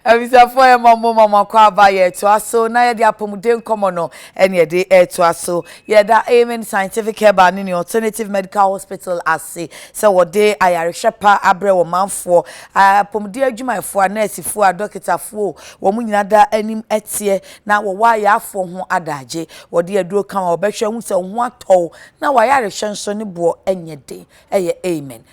abusuafoɔ yɛ ma mo ma mo akɔ aba yɛ ɛtoa so na yɛde apɔmuden nkɔmɔ no ɛne yɛde ɛtoa so yɛda amen scientific herbal ne ne alternative medical hospital ase sɛ wɔde ayarehwɛ pa abrɛ wɔ manfoɔ apɔmuden adwumayɛfoɔ a nɛɛsifoɔ a dɔkitafoɔ wɔn nyinaa da anim ɛteɛ na wɔwɔ ayaafoɔ ho adagye wɔde aduro ka ma wɔbɛhwɛ ho sɛ ho atɔw na wɔayarehwɛ nso ne boɔ ɛnyɛ den ɛyɛ amen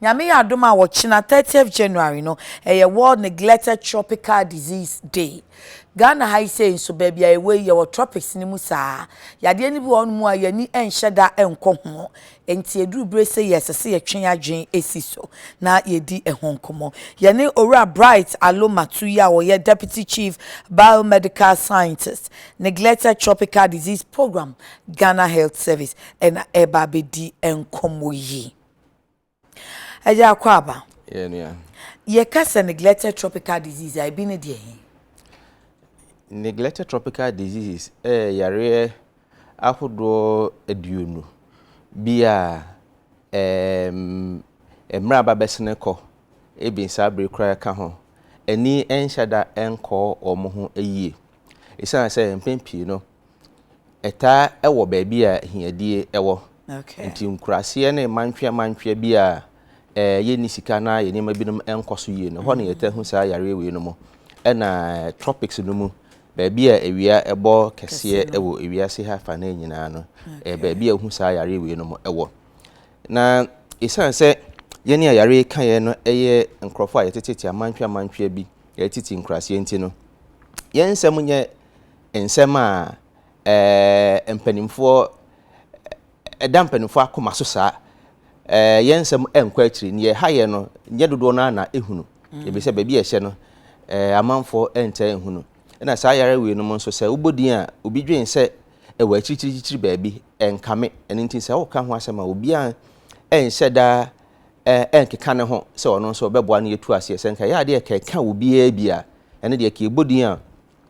Nyame yɛ adom a ɔkyena, thirtieth January, no, ɛyɛ World Neglected Tropical Disease Day. Ghana ha yi sei nso, baabi a yɛwɔ yi, yɛwɔ tropics no mu saa. Yadeɛ no bi wɔ hɔnom a, yɛn ani nhyɛ da nkɔ ho. Enti ɛduru berɛ sei a, ɛsɛ sɛ yɛtwe yɛn adwene si so na yɛdi ɛho nkɔmmɔ. Yɛne Owura Bright Allo Mato yi a ɔyɛ Deputy Chief Biomedical Scientist, Neglected Tropical Disease Programme, Ghana Health Service, ɛna ɛreba abɛdi nkɔmmɔ yi. Ɛyɛ akwaaba. Yɛ nua. Yɛ ka sɛ neglected tropical disease a ebi ne deɛ he? Neglected tropical diseases ɛyɛ eh, yareɛ ahodoɔ aduonu bi a ɛɛm eh, mmerɛ aba bɛsene kɔ ebi saa bere koraa ka ho ani ɛnhyɛ da ɛnkɔ wɔn ho yie. Esiane sɛ mpɛn pii no Ɛtaa wɔ baabi a ahiadie wɔ. Nti nkuraseɛ ne mantweɛ mantweɛ bi a eh, yɛnni sika na yɛn nneɛma binom nkɔ so yie no, ɛhɔ na mm. yɛtaa hu saa yareɛ wei no mu. Ɛna eh, tropics no mu, baabi a awia ɛbɔ kɛseɛ wɔ ewiase ha fa no nyinaa no, eh, baabi a wohu saa yareɛ wei no mu wɔ. Na ɛsiane sɛ yɛne a yareɛ ka yɛn no yɛ nkurɔfoɔ a yɛtetete amantweɛ amantweɛ bi, yɛtete nkuraseɛ nti no, yɛn nsɛm nyɛ nsɛm a ɛɛ mpanimfoɔ ɛda mpanimfoɔ akoma so saa ɛɛ yɛn nsɛm ɛnkɔ akyiri nea ɛha yɛn no nyɛ dodoɔ no ara na ehunu mm. ebi sɛ baabi a ɛhyɛ no ɛɛ amanfoɔ ɛntaa ehunu ɛna saa yare wei no mu nso sɛ wobɔ din a obi dwen sɛ ɛwɔ akyirikyirikyiri baabi ɛnkame ɛno nti sɛ woka ho asɛm a obiara ɛnhyɛ daa ɛnkeka ne ho sɛ ɔno nso ɔbɛboa no yɛtu aseɛ sɛ nka yɛ adeɛ kɛka obiara bi a ɛne deɛ kɛbɔ din a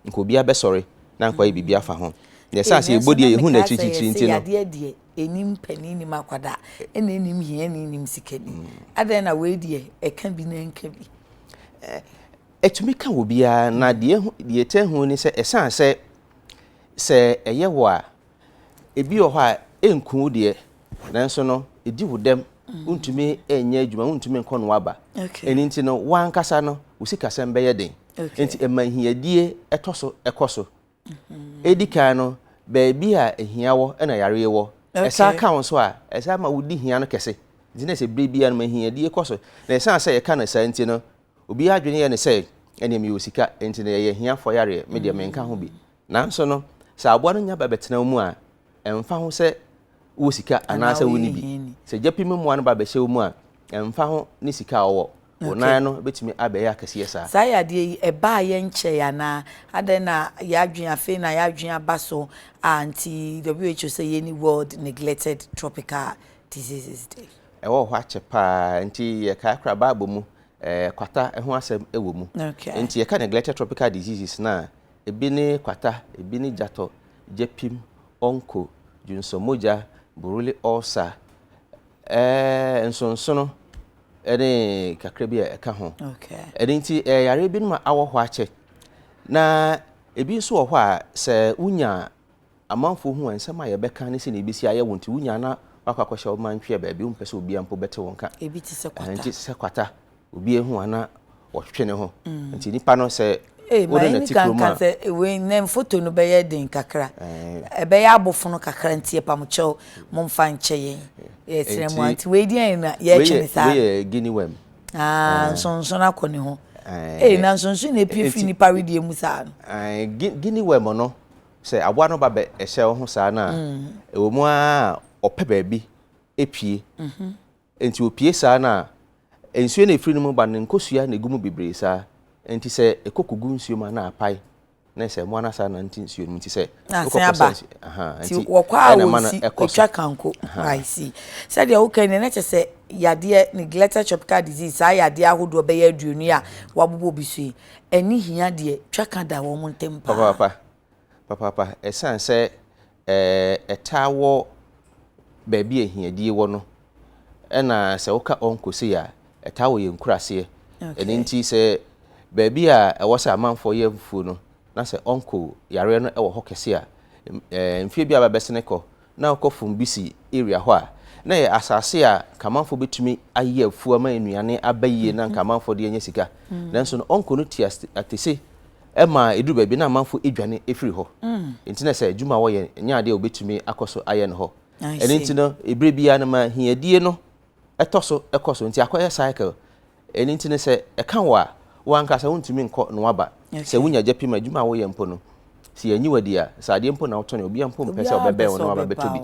nka obiara bɛsɔre na anka wayɛ biribi afa ho. Na ɛsɛ a sɛ yɛbɔ deɛ yɛhu n'akyirikyirikyiri nti no. Nanso na mekaa sɛ, 'Yɛse yadeɛ deɛ, ɛnnim panin, ɛnnim akwadaa, ɛna ɛnnim hiani, ɛnnim sikani. Adɛn na wei deɛ ɛka bi na ɛnka bi? Ɛtumi ka obiara, na deɛ ɛtɛ ho ni sɛ ɛsiane sɛ sɛ ɛyɛ wo a, ebi wɔ hɔ a ɛnku wo deɛ, nanso no ɛdi wo dɛm, wontumi nyɛ adwuma, wontumi nkɔ no aba. Ɛno nti no, wo ankasa no wo sikasɛm bɛyɛ den. nti ɛma ahiadie tɔ so kɔ so. Ɛdi kan no, baabi a ahia wɔ na yareɛ wɔ. Ɛsan ka wo nso a, ɛsan ma wodi hia no kɛse. Nti na sɛ berɛ biara no ma ahiadie kɔ so. Na ɛsan sɛ yɛka no saa nti no, obiara adwene yɛ no sɛ ɛneɛ mewɔ sika nti no ɛyɛ ahiafoɔ yareɛ, medeɛ menka ho bi. Nanso no, sɛ aboa no nya ba bɛtena wo mu a, ɛmfa ho sɛ wowɔ sika anaasɛ wonni bi. Sɛ gya pim mmoa no ba bɛhyɛ wo mu a, ɛmfa ho ne sika a ɔwɔ, wo nan no betumi abɛyɛ akɛseɛ saa. Saa yadeɛ yi, ɛbaeɛ nkyɛe anaa? Adɛn na yɛadwene, afei na yɛadwene aba so a nti WHO sɛ yɛnni World Neglected Tropical Diseases Day? Ɛwɔ hɔ akyɛ paa, nti yɛkae koraa Bible mu kwata ho asɛm wɔ mu. Nti yɛka neglected tropical diseases no a, Ebi ne kwata, ebi ne gyatɔ, gyepim, onco, dwonsɔmogya, buruli ulcer, ɛɛɛ nsonsono ne kakra bi a ɛka ho. Ɛno nti ɛyɛ yareɛ binom a awɔ hɔ akyɛ na ebi nso wɔ hɔ a sɛ wonya Amanfoɔ hu a, nsɛm a yɛbɛka ne sɛdeɛ ɛbɛsi ayɛ wo nti, wonya na woakɔ akɔhyɛ wo man ntwea baabi, wompɛ sɛ obiara mpo bɛte wo nka. Ebi te sɛ kwata. Nti sɛ kwata, obiara hu a na wɔtwetwe ne ho. Nti nipa no sɛ wode no te kurom a. Sɛ wei nnɛ foto no bɛyɛ den kakra, ɛbɛyɛ abofono kakra nti ɛpamokyɛw momfa nkyɛ yɛn. Yɛsrɛ mu a nti wei deɛ na yɛtwe ne saa. Wei yɛ guinea worm. Ah, nsonsono akɔ ne ho. Ee, na nsonsono na epie firi nipa wedeɛ mu saa no. Guinea worm no, sɛ aboa no ba bɛ hyɛ wo ho saa no a, ɛwɔ mu ara a ɔpɛ baabi pue. Nti opue saa no a, nsuo no a ɛfiri no mu ba no, nkosua na ɛgu mu bebree saa. Nti sɛ ɛkɔ kɔgu nsuo mu a, na apae. Na sɛ mmoa no asa na nte nsuo no mu. Nti sɛ wokɔ kɔ sɛ nsuo. Nti wɔkɔ a wɔsi ɛtwa kanko. I see. Sɛdeɛ woka yi na kyɛ sɛ yadeɛ neglected tropical disease saa yadeɛ ahodoɔ bɛyɛ aduonu yi a wɔabobɔ bi so yi, Ɛne hia deɛ, twaka da wɔn ntam paa. Papaapa, papaapa, ɛsiane sɛ ɛtaa wɔ baabi a ahiadie wɔ no, ɛna sɛ woka Ɔnko sei a, ɛtaa wɔ yɛn nkuraaseɛ. Ɛno nti sɛ baabi a ɛwɔ sɛ amanfoɔ yɛ afufuo no, na sɛ Ɔnko yareɛ no wɔ hɔ kɛse a, mfeɛ bi a aba bɛsene kɔ na ɔkɔ Fumbisi area hɔ a, na ɛyɛ asase a Nkamanfoɔ bɛtumi ayɛ afuo ama nnuane aba yie na nka amanfoɔ de anya sika. Mm. Nanso no, ɔnkɔ no ti atese ma ɛduru baabi na amanfoɔ adwane ɛfiri hɔ. Mm. Nti na sɛ adwuma a wɔyɛ nyɛ adeɛ a wɔbɛtumi akɔ so ayɛ no hɔ. Ɛno nti no, ɛberɛ biara no ma hiadie no ɛtɔ so ɛkɔ so. Nti akɔyɛ cycle. Ɛno nti no, sɛ ɛka wo a, wo ankasa wontumi nkɔ na woaba. Sɛ wunya gya pi ma adwuma a woyɛ mpo no, sɛ yɛannye wo adi a, sɛ adeɛ mpo na wotɔn a, obiara mpo mpɛ sɛ ɔbɛbɛn wo na waba abɛtɔ bi.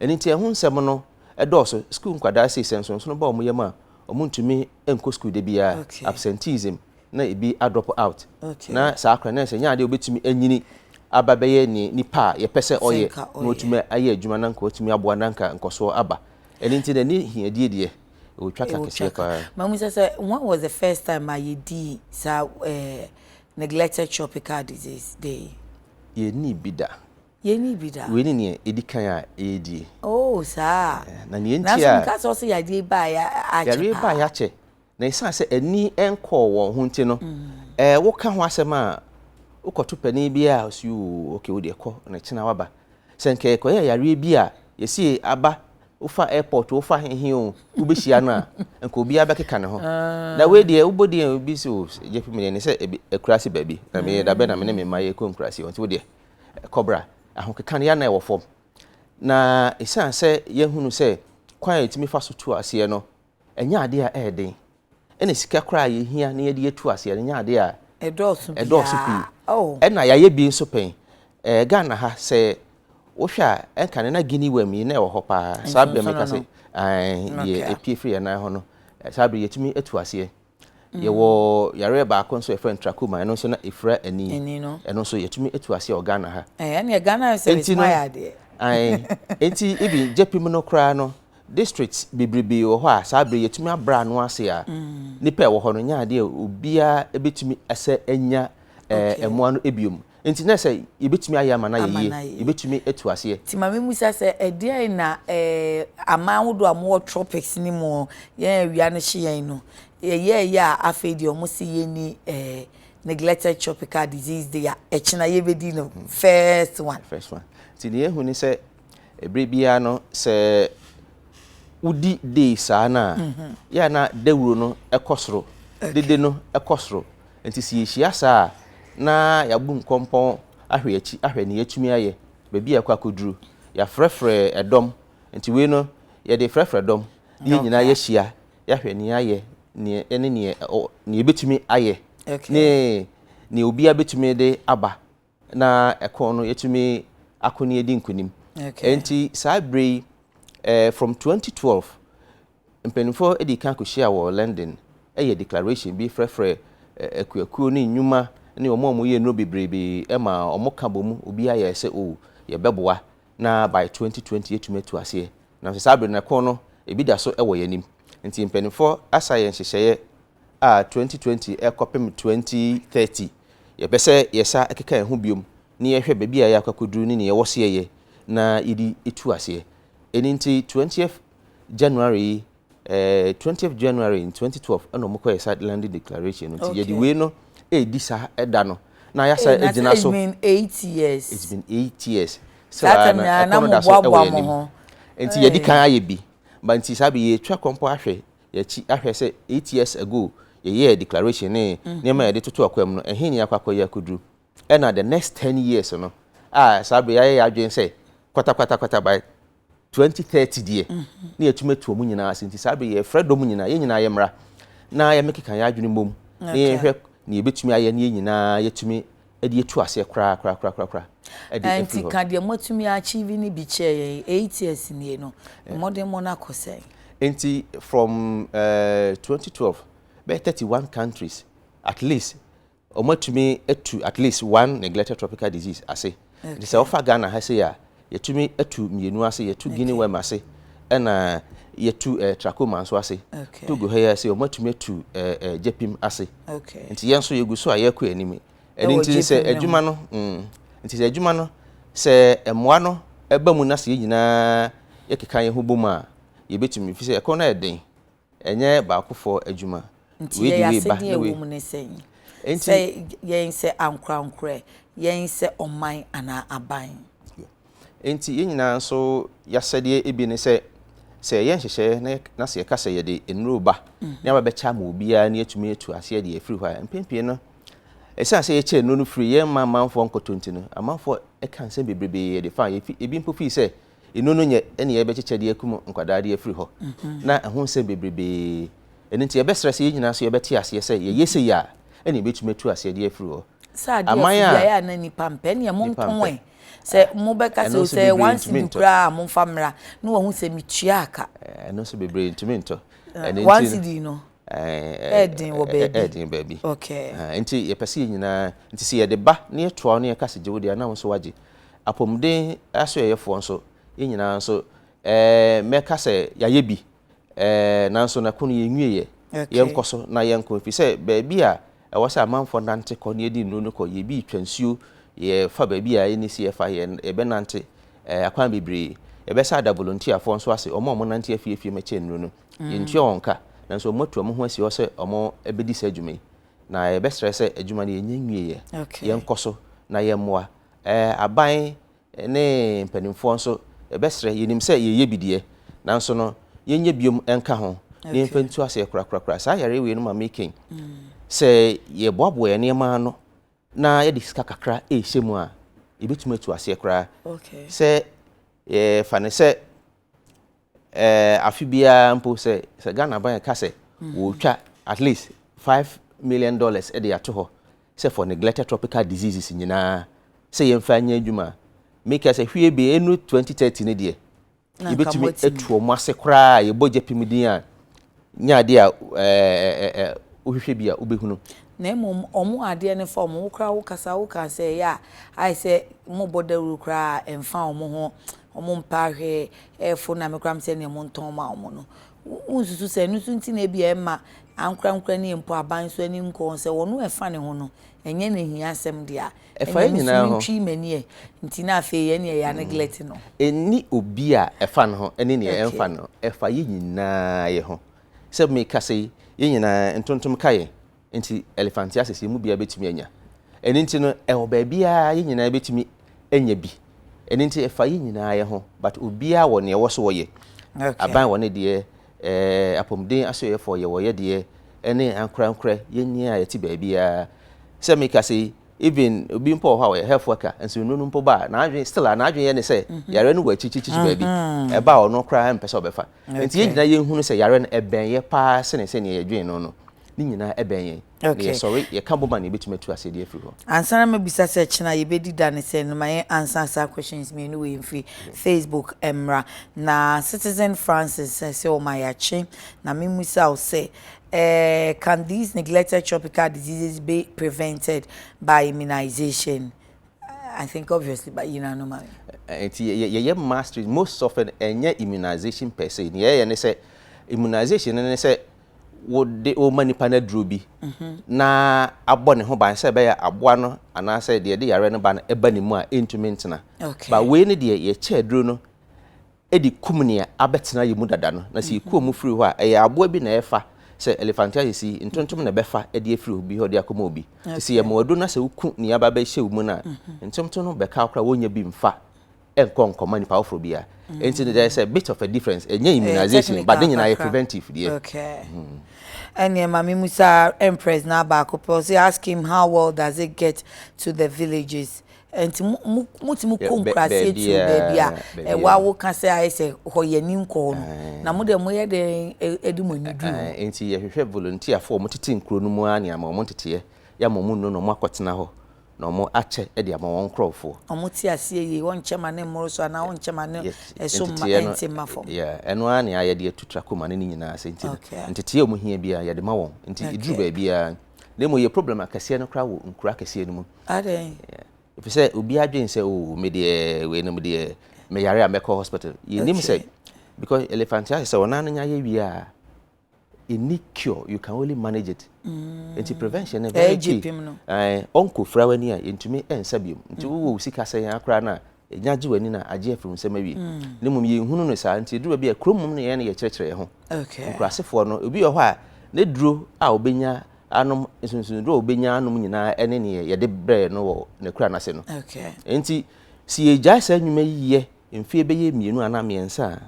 Ɛno nti ɛho nsɛm no dɔɔso. Sukuu nkwadaa sei, sɛ nsonsono ba wɔn yam a, wɔntumi nkɔ sukuu da biara, absenteeism, na ebi adrɔpo out. Na saa koraa na ɛsɛ sɛ ɛnyɛ adeɛ a wɔbɛtumi anyini aba bɛyɛ nea nipa a yɛpɛ sɛ ɔyɛ na watumi ayɛ adwuma na anka watumi aboa na anka nkɔsoɔ aba. Ɛno nti no, ɛne hiadie deɛ, Otwa ka kɛseɛ paa. Mamu sɛ sɛ when was the first time a yɛdii saa eh, neglected tropical disease deɛ yi? Yɛnnii bi da. Yɛnnii bi da. Wei ne neɛ ɛdi kan a yɛdie. Oh saa. Eh, na neɛ nti a. Nanso nka sɛ ɔsɛ yadeɛ yi baa yɛ akyɛ paa. Yadeɛ yi baa yɛ akyɛ. Na ɛsiane sɛ ani nkɔɔ wɔn ho nti no, mm. eh, woka ho asɛm a wokɔto panin bi a ɔsi o okay wo deɛ kɔ na kyena waba. Sɛ nka ɛkɔyɛ yareɛ bi a yɛsi aba Wofa airport o, wofa hehe o, wobɛhyia no a, nka obiara bɛkeka ne ho. Na wei deɛ wobɔ din a obi sɛ o, gye fi medeɛ ne sɛ akuraase baabi, na meyɛ dabɛ na me ne me mma yɛkɔ nkuraase hɔ nti wodeɛ kɔbra. Ahokeka no yɛ na ɛwɔ fam. Na ɛsiane sɛ yɛahunu sɛ kwan a yɛtumi fa so tu aseɛ no, ɛnyɛ adeɛ a ɛyɛ den. ɛna sika koraa a yɛhia na yɛde atu aseɛ no nyɛ adeɛ a ɛdɔɔso ɛdɔɔso pii biara o ɛna yɛayɛ bi nso pɛn ɛɛ ghana ha sɛ wohwɛ a ɛnka no na guinea worm yi na ɛwɔ hɔ paa saa berɛ meka sɛ ɛɛ deɛ Okay. ɛpie firi yɛn nan ho no eh, saa berɛ yɛtumi atu aseɛ yɛwɔ yareɛ baako nso yɛfrɛ no trachoma ɛno nso na ɛfira ani ani no ɛno nso yɛtumi atu aseɛ wɔ ghana ha ɛɛ ɛneɛ ghana ayɛ sɛ Enti no- bɛtumi ayɛ adeɛ Ae, enti even gyepim no koraa no Districts bebrebe wɔ hɔ a saa bere yɛtumi abrɛ ano ase a nnipa a ɛwɔ hɔ no nya adeɛ a obiara bɛtumi sɛ anya mmoa no biom. Nti na sɛ yɛbɛtumi ayɛ ama no ayɛ yie, yɛbɛtumi atu aseɛ. Nti ma memmisa sɛ, ɛdeɛn na aman ahodoɔ a wɔwɔ tropics no mu yɛn awia no hye yɛn no, yɛyɛeɛ a afei deɛ wɔse yɛnni neglected tropical disease day a ɛkyena yɛbɛdi no first one? First one. Nti deɛ yɛahu ne sɛ, Bere biara no, sɛ wodi dee saa no a, yɛ a na dawuro no kɔ soro, dede no kɔ soro. Nti sɛ yɛhyia saa a, na yɛabu nkɔmpɔn ahwɛ akyi ahwɛ ne yɛatumi ayɛ, baabi a ɛkɔ akɔduru. Yɛafrɛfrɛ ɛdɔm, nti wei no yɛde frɛfrɛ dɔm na yɛn nyinaa yɛahyia, yɛahwɛ nea ayɛ ne nea yɛbɛtumi ayɛ ne nea obiara bɛtumi de aba na ɛko no yɛtumi ako ne yɛdi nkonim nti saa berɛ yi eh, from 2012 mpanimfoɔ de kan kɔhyia wɔ London ɛyɛ declaration bi frɛfrɛ akuakuo ne nnwuma ne wɔn a wɔyɛ nnuro bebrebe ma wɔn ka bɔ mu obiara yɛ sɛ o oh, yɛbɛboa na by 2020 yɛtumi atu aseɛ nanso saa berɛ no ɛko no ebi da so wɔ yɛn anim nti mpanimfoɔ asa yɛn nhyehyɛeɛ a twenty twenty kɔpem twenty thirty yɛpɛ sɛ yɛsa keka yɛn ho biom na yɛhwɛ baabi a yɛakɔ akɔduru ne nea ɛwɔ sɛ yɛyɛ na yɛde tu aseɛ. Ɛno nti twentieth January yi eh, twentieth January in twenty twelve ɛna wɔkɔyɛ saa landing declaration no nti yɛde Okay. wei no ɛredi saa ɛda no na yɛasa Hey, na agyina it's so. been eight years. It's been eight years. Still Saa ara time no, nyinaa ɛkɔ na no da so ɛwɔ moboaboa yɛn mo anim. ho. Nti yɛdi Hey. kan ayɛ bi. Ba nti saa bere yi yɛtwa kɔmpɔ ahwɛ Yɛakyi ahwɛ sɛ eight years ago yɛyɛɛ declaration ne nneɛma a yɛde toto akwam no, ɛhe ne yɛakɔ akɔyɛ akoduru. Ɛna the next ten years no, a saa bere yɛayɛ yɛn adwene sɛ kwatakwatakwatakwa by twenty thirty deɛ, na yɛatumi atu wɔn nyinaa ase. Nti saa bere yi yɛrefrɛ dɔm nyinaa, yɛn nyinaa yɛmmra na yɛmmɛkeka yɛn adwene mmom na yɛnhwɛ nea yɛbɛtumi ayɛ na yɛn nyinaa yɛatumi de atu aseɛ koraa koraa koraa koraa koraa de afiri Ɛnti hɔ. ka deɛ moatumi achieve no bi kyerɛ yɛn, eight years nie no, mmɔdemmɔ no akɔ sɛn? Nti from eh, twenty twelve, bɛyɛ thirty one countries at least wɔatumi atu at least one neglected tropical disease ase. Nti sɛ Okay. wofa Ghana ha sei a, yɛtumi tu mmienu ase, yɛtu Guinea worm ase, ɛna yɛtu eh, trachoma nso ase. Okay. Togo ha yi ase, wɔn atumi atu eh, eh, gyepim ase. Okay. Nti yɛn nso yɛgu so a yɛkɔ anim. Ɛno nti sɛ adwuma no, mm, nti sɛ adwuma no, sɛ mmoa no ɛba mu na sɛ yɛn nyinaa yɛkeka yɛn ho bom a, yɛbɛtumi, fi sɛ ɛkɔn no ayɛ den. Ɛnyɛ baakofoɔ adwuma. Nti yɛn asɛdeɛ a ɛwɔ mu ne sɛn? Sɛ yɛn sɛ ankorankorɛ, yɛn sɛ ɔman anaa aban? Nti yɛn nyinaa nso y'asɛdeɛ bi ne sɛ, sɛ yɛyɛ nhyehyɛeɛ na sɛ yɛka sɛ yɛde nnuro reba na yɛaba bɛkyɛ ama obiara na yɛatumi atu aseɛ deɛ ɛfiri hɔ a, mpɛn pii no, ɛsiane sɛ yɛkyɛ nnuro no firi yɛn mma amanfoɔ nkɔtɔ nti no, amanfoɔ ka nsɛm bebrebe de fa, ebi mpo firi sɛ, Eno no nyɛ nea yɛbɛkyekyɛ de akum nkwadaa de afiri hɔ. Na ɛho nsɛm bebrebe. Ɛno nti yɛbɛsrɛ sɛ yɛn nyinaa nso yɛbɛte aseɛ sɛ yɛyɛ sei a, ɛnna yɛbɛtumi atu aseɛ de afiri hɔ. Sɛ adeɛ Aman a, afideɛ a na nnipa mpɛ neɛ mo nnipa nko mpɛ. ɛ. Sɛ mobɛka sɛ Ɛno o nso sɛ bebree one ntumi cedi ntɔ. koraa a momfa mmra na wahu sɛ metuaa ka. Eh, Ɛno nso bebree ntumi ntɔ. Ɛno One nti no, cedi no eh, ɛyɛ den wɔ eh, eh, baabi. ɛyɛ den baabi. Okay. Ah, Nti yɛpɛ sɛ yɛn nyinaa, nti sɛ yɛde ba na yɛtoa wo na yɛka sɛ gye wo deɛ a, na wo nso woagye. Apɔmuden asoɛeɛfoɔ nso, yɛn nyinaa nso, eh, mɛka sɛ yɛayɛ bi, eh, nanso na ko no yɛnwieɛ. Okay. Yɛnkɔ so na yɛnkɔ, ɛfiri sɛ baabi a ɛwɔ sɛ amanfoɔ nante kɔ na yɛdi nnuro no kɔ, yɛbi retwa nsuo, yɛfa baabi a ɛnni sɛ yɛfa, yɛ, yɛbɛnante, eh, akwan bebree. Yɛbɛsa ada volontiafoɔ nso ase, wɔn a wɔnante afie afie mmɛkyɛ nnuro no. Yɛntua wɔn ka, nanso wɔatu wɔn ho asi hɔ sɛ wɔbɛdi saa adwuma yi, na yɛbɛsrɛ sɛ adwuma no yɛnnya nwieɛ. Okay. Yɛnkɔ so na yɛmmoa. Aban ne mpanimfoɔ nso bɛsrɛ, yɛnim sɛ yɛyɛ bi deɛ, nanso no yɛnyɛ biom nka ho na yɛmfa ntu aseɛ korakorakora. Saa yareɛ wei no ma meken sɛ yɛboaboa yɛn nneɛma ano na yɛde sika kakra ɛrehyɛ mu a, yɛbɛtumi atu aseɛ koraa. Sɛ yɛfa no sɛ ɛɛ afe biara mpo sɛ sɛ Ghana ban ka sɛ mhm. wɔretwa at least five million dollars de ato hɔ sɛ for neglected tropical diseases nyinaa sɛ yɛmfa nyɛ adwuma meka sɛ hwie bi ɛnu 2030 no deɛ yɛbɛtumi atu ɔmo ase koraa yɛbɔ gya pim din a nyɛ adeɛ a wohwehwɛ bi a wobɛhunu. Na mmom wɔn adeɛ no fa wɔn. Wo koraa wo kasa woka a sɛ ɛyɛ a ayɛ sɛ wɔbɔ dawuro koraa a ɛmfa wɔn ho, wɔmpɛ ahwɛɛ, ɛrefo na me koraa mesɛ neɛ montɔn ma wɔn no. Wonsusu sɛ ɛno nso nti na ebia ɛmma ankorankorani mpo aban nso ani nkɔ wɔn sɛ wɔn a ɛfa ne ho no ɛnyɛ n'ahiasɛm dea. Ɛfa yɛn nyinaa ho. Ɛnna me nso mentwii m'ani ɛ. Nti na afei yɛn nea yɛ aneglect no. Ɛnni obi a ɛfa no ho ne nea ɛmfa no ho. Ɛfa yɛn nyinaa yɛ ho. Sɛ mekasa yi, yɛn nyinaa ntontom ka yɛn. Nti elephantiasis yɛn mu biara bɛtumi anya. Ɛno nti no, ɛwɔ baabiara yɛn nyinaa bɛtumi anya bi. Ɛno nti ɛfa yɛn nyinaa yɛ ho. But obiara wɔ nea ɛwɔ so ɔyɛ. Aban wɔ ne deɛ, Ɛɛ, apɔmuden asoɛeɛfoɔ, yɛwɔ ɔyɛdeɛ ne ankorankorɛ, yɛnni a yɛte baabiara. Sɛ mekasa yi, even obi mpo wɔ hɔ a ɔyɛ health worker, nsonunu no mpo ba a, n'adwene, still a, n'adwene yɛ ne sɛ yareɛ no wɔ akyirikyirikyiri baabi, ɛba a ɔno koraa mpɛ sɛ ɔbɛfa. Nti yɛn nyinaa yɛhunu sɛ yareɛ no ɛbɛn yɛ paa sene sɛdeɛ yɛdwene no no, ne nyinaa ɛbɛn yɛn. Okay. Yɛ sɔre yɛ ka bɔma na yɛbɛtumi atu aseɛ de afiri hɔ. Ansa na mabisa sɛ kyena yɛbɛdi da ne sɛ no ma yɛn ansa saa questions mmienu wei mfiri Facebook mmra na Citizen Francis sɛ sɛ ɔma yɛakye na memusa wo sɛ eh, can these neglected tropical diseases be prevented by immunization? I think obviously but you know no matter. Nti yɛyɛ mastery most often ɛnyɛ immunization per se. Nea yɛyɛ ne sɛ immunization ne sɛ wode rema nnipa no aduro bi na abɔ ne ho ban sɛ ɛbɛyɛ aboa no anaasɛ deɛ ɛde yareɛ no ba no ɛba ne mu a ɛntumi ntena ba wei no deɛ yɛkyɛ aduro no de kum nea abɛtena yɛ mu dada no na sɛ yɛkuo mu firi hɔ a ɛyɛ aboa bi na ɛfa sɛ elephantiasis yi ntontom na ɛbɛfa de afiri obi hɔ de akɔma obi te sɛ yɛma aduro no sɛ woku nea aba bɛhyɛ wo mu no a ntontom no bɛka wo koraa wɔnya bi mfa ɛnkɔ nkɔma nipa foforɔ bi a nti no there is a bit of a difference ɛnyɛ eh, immunization but ne nyinaa yɛ preventive deɛ. okay mm. ɛnneɛ maame musa empress na baako pɛ ɔsɛ ask him how well does it get to the villages nti motumi kɔ nkuraseɛ tuo baabi a ɛwɔ awo ka sɛ ayɛ sɛ hɔ yɛ ani nkɔ hɔ no eh. na mo deɛ moyɛ dɛn eh, eh, de mo ani duru hɔ nti yɛhwehwɛ volunteerfoɔ a wɔtete nkuro no mu a ne ama wɔn nteteɛ yɛ ama wɔn nnu na wɔn akɔtena hɔ na wɔakyɛ de ama wɔn nkurɔfoɔ. Wɔte aseɛ yie, wɔnkyɛ ma ne mmoro so anaa wɔnkyɛ ma ne so mma ɛnte mma fam. Yeah, ɛno ara nea yɛde atu tra kɔma no ne nyinaa ase nti no, nteteɛ a wɔhia biara yɛde ma wɔn, nti ɛduru baabiara. Na mmom yɛ problem akɛseɛ no koraa wɔ nkuro akɛseɛ no mu. Adɛn? Ɛfiri sɛ obiara adwene sɛ oo oh, me deɛ weinom deɛ meyare a mɛkɔ hospital. Yɛnim sɛ because elephant ayɛ sɛ wɔn ano nya yɛ wie a ɛnni cure you can only manage it mm. nti prevention no very key ɔnkɔ fira w'ani a yɛntumi ɛnsa biom nti mm. wowɔ wo sika sɛ yɛn akora no a ɛnya gye w'ani no a agye afiri nsɛm awie mm. ne mmom yɛnhunu no saa nti ɛduru bi a kurom mom no yɛn no yɛkyerɛkyerɛ yɛ ho nkurasefoɔ no obi wɔ hɔ a ne duro a ɔbɛnya anom nsonsonduro a ɔbɛnya anom nyinaa ɛne neɛ yɛde brɛ no wɔ ne kura no ase no nti si yɛgyae saa nnwuma yi yɛ mfeɛ bɛyɛ mmienu anaa mmiɛnsa a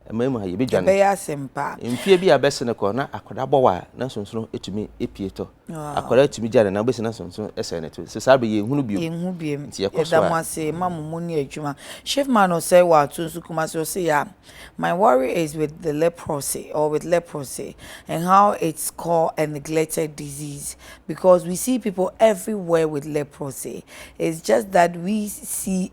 Ɛmɛɛm ha yɛbɛ dwane. Ɛbɛyɛ asɛm paa. Mfie bi a bɛse no kɔ na akɔda bɔ wa na sonsono ɛtumi ɛpie tɔ. Wow. Akɔda ɛtumi gya ne nan bɛsi na sonsono ɛsɛɛ ne to. Nso saa bɛ yɛn hunu biom. Yɛn hu biom. Nti yɛkɔ so a. Yɛda mo ase ma mo mu ni adwuma. Shift man ɔsɛe wa to nso kumase ɔse ya. My worry is with the leprosy or with leprosy and how it's called a neglected disease because we see people everywhere with leprosy it's just that we see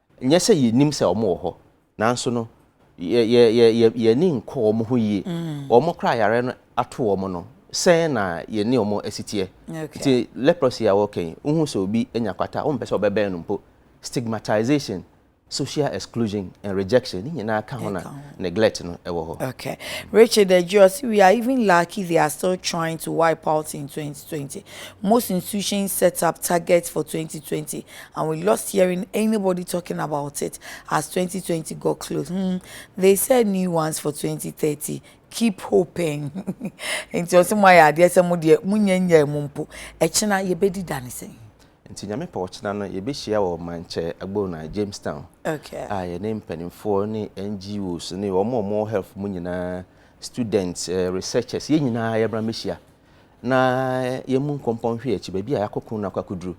Nyɛ sɛ yɛnnim sɛ wɔn wɔ hɔ, nanso no, yɛ, yɛ, yɛ, yɛn ani nkɔ wɔn ho yie. Wɔn koraa a yareɛ no ato wɔn no, sɛn na yɛne wɔn asi teɛ? Nti, leprosy a wɔreka yi, wohu sɛ obi anya kwata a, wompɛ sɛ wobɛbɛn no mpo. Stigmatization, social exclusion and rejection, ne nyinaa ka ho na neglect no wɔ hɔ. Okay. Richard Adjei, ɔse, We are even lucky they are still trying to wipe out in twenty twenty. Most institutions set up targets for twenty twenty and we lost hearing anybody talking about it as twenty twenty got close hmm they said new ones for twenty thirty keep hoping nti ɔsɛ mo ayɛ adeɛ sɛ mo deɛ mo nyɛ nyɛ mo mpo ɛkyena yɛbɛdi da ne sɛn. Nti Nyame pɛ ɔkyena no yɛbɛhyia wɔ Mankyɛ Agbonai Jamestown Okay. a yɛne mpaninfoɔ ne NGOs ne wɔn a wɔn wɔ health mu nyinaa students eh, researchers yɛn nyinaa yɛbra mɛhyia na yɛmu nkɔmpɔ nhwe akyi baabi a yɛakɔko no akɔ akɔduru.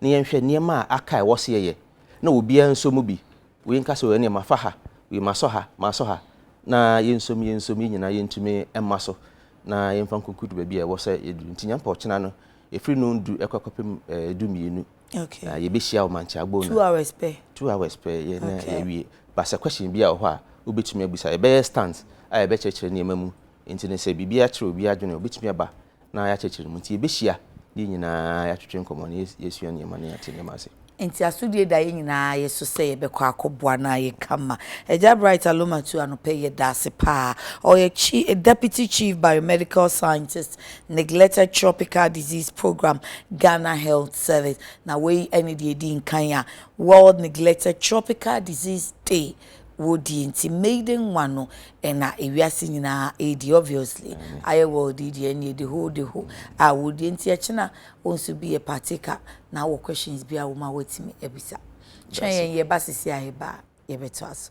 na yɛnhwɛ nneɛma a aka a ɛwɔ sɛ yɛyɛ na obiara nso mu bi. Wei nka sɛ ɛneɛ mafa ha, wei masɔ ha, masɔ ha, na yɛnsom, yɛnsom, yɛn nyinaa yɛntumi mma so na yɛmfa nkonkudu baabi a ɛwɔ sɛ yɛduru. Nti Nyankopɔn ɔkyena no, ɛfiri no du ɛkɔ kɔpem du mmienu, okay. na yɛbɛhyia wɔ Mankyɛ Agbono. Two hours pɛ. Two hours pɛ, yɛ na okay. yɛwie. Ba sɛ question bi a wɔ hɔ a wobɛtumi abusa, yɛbɛyɛ stands a yɛbɛkyerɛkyerɛ nneɛma mu, nti no sɛ biribi akyerɛ obi adwene, obɛtumi aba na yɛakyerɛkyerɛ no mu. Nti yɛbɛhyia ne yɛn nyinaa yɛatwetwe nkɔmmɔ na yɛasua nneɛma na yɛate nneɛma ase. Nti asodie da yɛn nyinaa yɛ so sɛ yɛbɛkɔ akɔboa na ayɛ kama. Agya Bright Alomatu anɔpa yi yɛda ase paa. Ɔyɛ chi Deputy Chief Biomedical Scientist, Neglected Tropical Disease Programme, Ghana Health Service. Na wei ɛne deɛ ɛdi nkan a World Neglected Tropical Disease Day wodie nti maiden nwa no na ewiase nyinaa ɛdi obviously ayɛ world yi deɛ ɛneɛ the whole the whole a wodie nti ɛkyena wo nso bi yɛ partaker na wɔ questions bi a wo ma watumi abisa kyerɛ yɛn yɛba sisi a yɛba a yɛbɛto aso